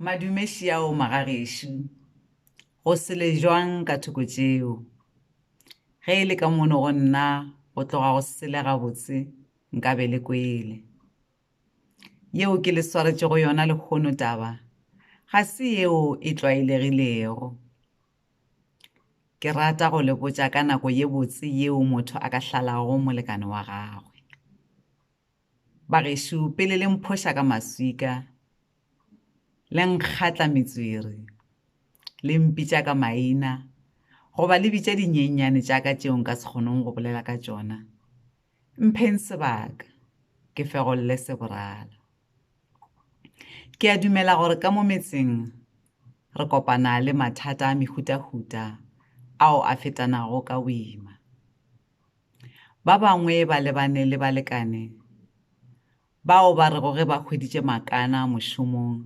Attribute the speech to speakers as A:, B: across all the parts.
A: Madume Xiao Magageshu, go sele jwang ka thoko tšeo? Ge e le ka mono go nna go tloga go sele gabotse nka be le kwele. Yeo ke le swaretše go yona lehono taba ga se yeo e tlwaelegilego. Ke rata go le botša ka nako ye botse yeo motho a ka hlalago molekane wa gagwe. Bagešo, pele le mphoša ka maswika, le nkgatla metswere, le mpitša ka maina, goba le bitša dinyenyane tša ka tšeo nka se kgonong go bolela ka tšona, mpheng sebaka ke fegolle seborala. Ke a dumela gore ka mo metseng re kopana le mathata a mehutahuta ao a fetanago ka boima. Ba bangwe ba lebane le balekane bao ba rego ge ba hweditše makana mošomong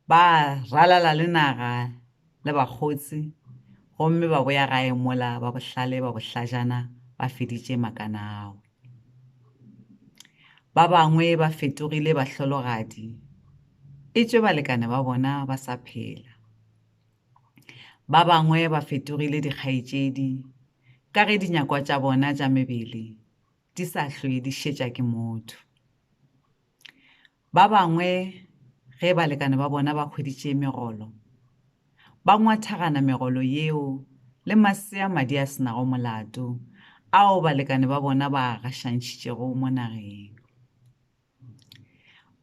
A: ba ralala le naga le bakgotsi gomme ba boya gae mola ba bohlale ba bohlajana ba feditše makana ao. Ba bangwe ba fetogile bahlologadi etšwe balekane ba bona ba sa phela. Ba bangwe ba fetogile dikgaetšedi ka ge dinyakwa tša bona tša mebele di sa hlwe di šetša ke motho. Ba bangwe ge balekane ba bona ba hweditše megolo, ba ngwathagana megolo yeo le masea madi a senago molato ao balekane ba bona ba a gašantšhitšego mo nageng.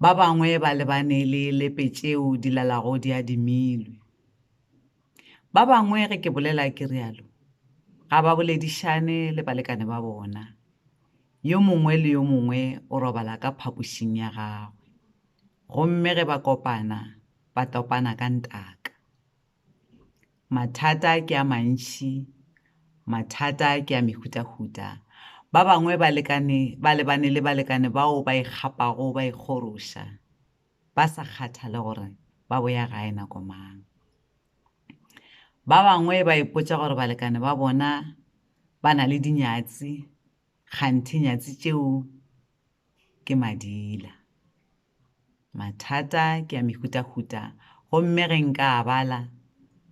A: Ba bangwe ba lebane le lepe tšeo di lalago di adimilwe. Ba bangwe ge ke bolela ke realo ga ba boledišane le balekane ba bona, yo mongwe le yo mongwe o robala ka phapošing ya gagwe, gomme ge ba kopana ba topana ka ntaka. Mathata ke a mantši, mathata ke a mehutahuta. Ba bangwe ba lebane le balekane bao ba ikgapago ba ikgoroša, ba sa kgathale gore ba boya gae nako mang. Ba bangwe ba ipotša gore balekane ba bona ba na le dinyatsi, kganthe nyatsi tšeo ke madila. Mathata ke a mehutahuta gomme ge nka a bala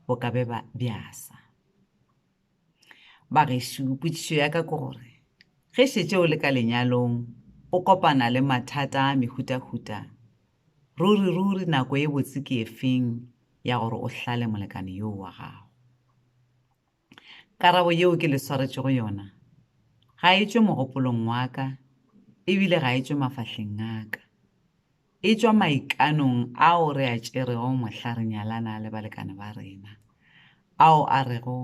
A: bo ka be bjasa. Bagešo, potšišo ya ka ke gore ge šetše o le ka lenyalong o kopana le mathata a mehutahuta, ruri-ruri nako e botse ke efeng ya gore o hlale molekane yoo wa gago? Karabo yeo ke le swaretšego yona ga e tšwe mogopolong wa ka e bile ga e tšwe mafahleng a ka. E tšwa maikanong ao re a tšerego mohla re nyalana le balekane ba rena, ao a rego,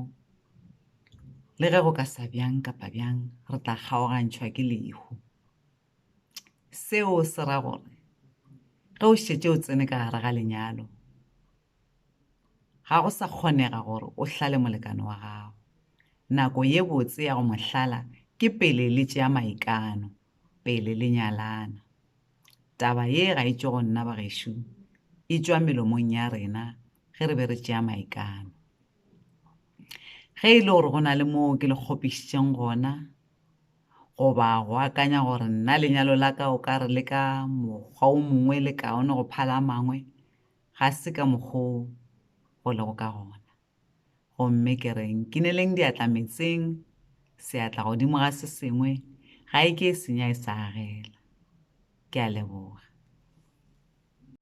A: Le ge go ka sa bjang kapa bjang re tla kgaogantšhwa ke lehu. Seo se ra gore ge o šetše o tsene ka gare ga lenyalo, Ga go sa kgonega gore o hlale molekane wa gago. Nako ye botse ya go mo hlala ke pele le tšea maikano, pele le nyalana. Taba ye ga e tšwe go nna bagešo, e tšwa melomong ya rena ge re be re tšea maikano. Ge e le gore go na le moo ke le kgopišitšeng gona, goba go akanya gore nna lenyalo la ka o ka re le ka mokgwa o mongwe le kaone go phala a mangwe, Ga se ka mokgwa wo go lego ka gona. Gomme ke re, Nkineleng diatla meetseng, seatla godimo ga se sengwe, ga e ke e senya e sa agela. Ke a leboga.